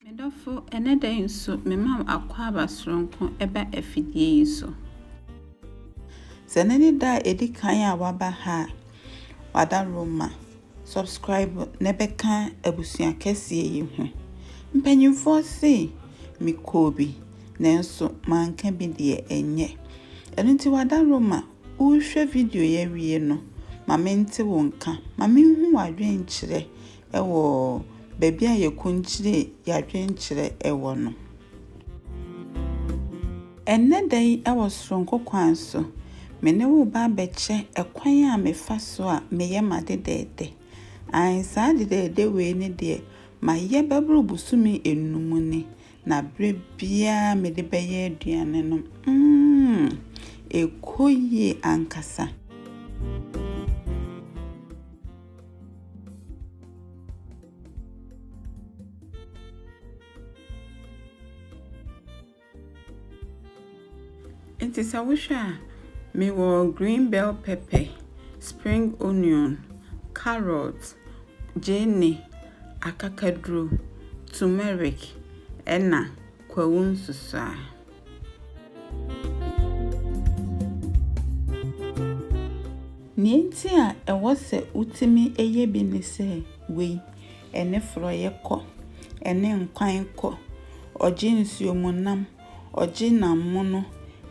Me dɔfo, ɛnnɛ da yi nso mema wo akwaaba soronko ba afidie yi so. Sɛ ne ne da a ɛdi kan a waba ha a, wada Roma, subscribe na bɛka abusua kɛseɛ yi ho. Mpanyinfoɔ se mekɔɔ bi, nanso manka bi deɛ ɛnyɛ. Ɛno nti wada Roma, wohwɛ video yi awie no, ma mente wo nka, ma menhu w'adwenkyerɛ Wɔ baabi a yɛkɔnkyire yɛadwenkyerɛ wɔ no. Ɛnnɛ da yi wɔ soronko kwan so, me ne wo reba abɛkyɛ kwan a mefa so a meyɛ m'ade dɛɛdɛ. Aane, saa ade dɛɛdɛ wei ne deɛ mayɛ bɛboro bosome nnum ni, na berɛ biara mede bɛyɛ aduane no, mm, ɛkɔ yie ankasa. Nti sɛ wohwɛ a, mewɔ green bell pepper, spring onion, carrot, gyeene, akakaduro, turmeric, ɛna kwawu nsusuaa. Nea enti a ɛwɔ sɛ wotumi yɛ bi ne sɛ wei, ɛne forɔeɛ kɔ, ɛne nkwan kɔ, ɔgye nsuomunam, ɔgye nam mono,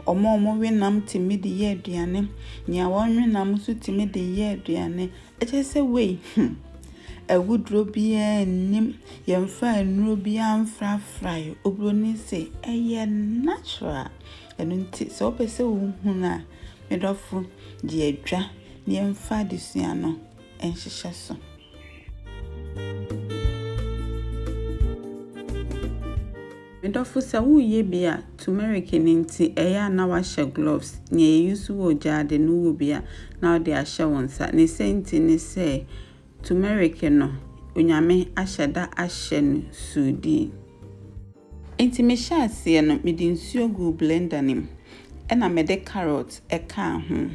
wɔn a wɔwe nam tumi de yɛ aduane, nea wɔnwe nam nso tumi de yɛ aduane, Ɛkyerɛ sɛ wei, hmm, awuduro biara nnim, yɛmfa nnuro biara mfrafrae. Oburoni se, ɛyɛ natural. Ɛno nti, sɛ wopɛ sɛ wohunu a, me dɔfo, gye adwa na yɛmfa adesua no nhyehyɛ so. Me dɔfo sɛ woreyɛ bi a turmeric no nti ɛyɛ a na wahyɛ gloves, nea yɛuse wɔ gyaade no wɔ bi a na wode ahyɛ wo nsa. Ne sɛ nti ne sɛ turmeric no Onyame ahyɛ da ahyɛ no suudii. Nti me hyɛ aseɛ no mede nsuo guu blender no mu ɛna mede carrot ɛkaa ho.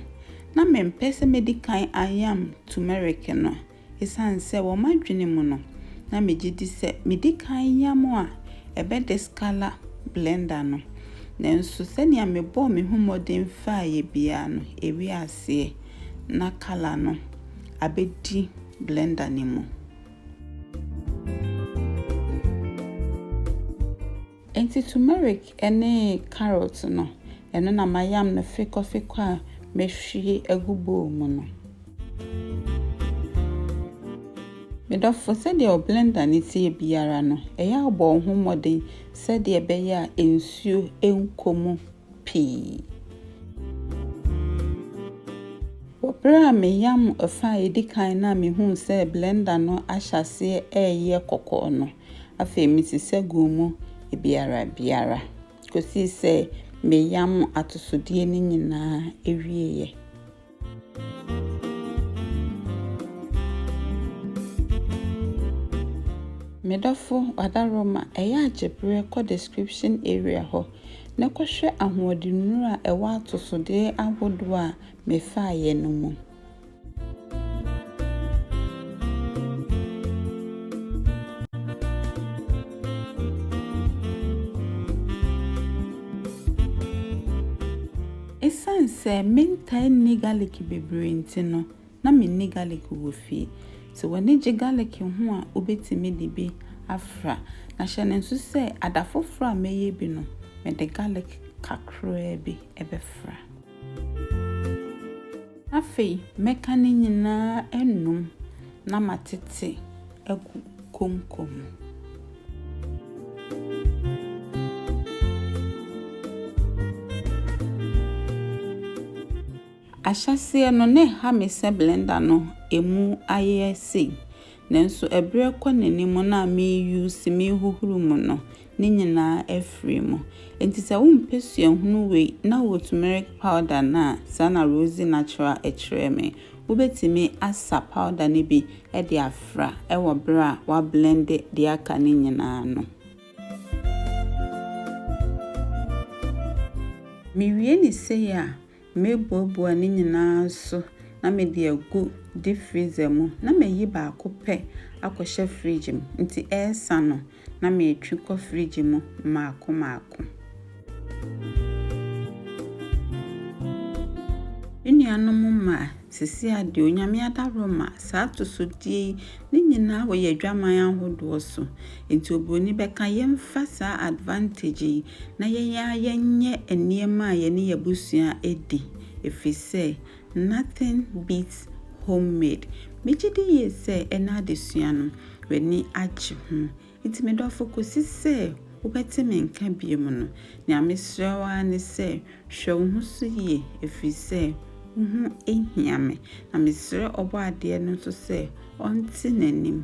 Na mempɛ sɛ mɛdi kan ayam turmeric no Esiane sɛ wɔ m'adwene mu no na migye di sɛ midi kan yam a, ɛbɛde Scala blender no. Nanso sɛnea mebɔɔ me ho mmɔden faeɛ biara no, ɛwee aseɛ. Ná kala no abɛdi blender no mu. Enti turmeric ne carrot no, ɛno na mayam no fekɔfekɔ a mahwie agu bowl mu no. Me dɔfo, sɛdeɛ wo blender no teɛ biara no, ɛyɛ a wobɔ wo ho mmɔden sɛdeɛ ɛbɛyɛ a nsuo nkɔ mu pii. Wɔ berɛ a meyam ɛfa a ɛdi kan no a mehuu sɛ blender no ahyɛ aseɛ reyɛ kɔkɔɔ no, Afei mesi saguo mu biara biara, kɔsii sɛ meyam atosodeɛ no nyinaa wieeɛ. Me dɔfo Wadaroma, ɛyɛ a gye berɛ kɔ description area hɔ na kɔhwɛ ahoɔdennuro a ɛwɔ atosodeɛ ahodoɔ a mefaeɛ no mu. Ɛsiane sɛ mentaa nni garlic bebree nti no, na menni garlic wɔ fie. Sɛ w'ani gye garlic ho a, wobɛtumi de bi afra. Na hyɛ no nso sɛ ada foforɔ a mɛyɛ bi no, mede garlic kakraa bi bɛfra. Afei mɛka ne nyinaa anom na matete agu konko mu. Ahyɛseɛ no, na ɛha me sɛ blender no ɛmu ayɛ sei. Nanso ɛberɛ rekɔ n'anim no a me use, mehohoro mu no, ne nyinaa afiri mu. Enti sɛ wompɛ suahunu wei na wɔ turmeric powder no a, saa na Rosie Natural kyerɛɛ me. Wobɛtumi asa powder no bi de afra wɔ berɛ a woablende deɛ aka no nyinaa no. Mewie no sei a, Mɛbuebue ne nyinaa nso na mede agu deep freezer mu na mayi baako pɛ akɔhyɛ fridge mu nti ɛresa no na metwe kɔ fridge mu mmaako mmaako. Me nuanom mmaa, seesei ara deɛ Onyame adaworo ma saa atosodeɛ yi ne nyinaa wɔ yɛn adwaman ahodoɔ so. Nti obroni bɛka yɛmfa saa advantage yi na yɛn ara yɛnyɛ nneɛma a yɛne y'abusua di efisɛ nothing beats home made. Megye di yie sɛ ɛnɛ adesua no w'ani agye ho. Nti me dɔfo kosi sɛ wobɛte me nka biom no nea mesrɛ wo ara ne sɛ hwɛ wo ho so yie efisɛ wo ho hia me. Na mesrɛ Ɔbɔadeɛ no nso sɛ ɔnte n'anim.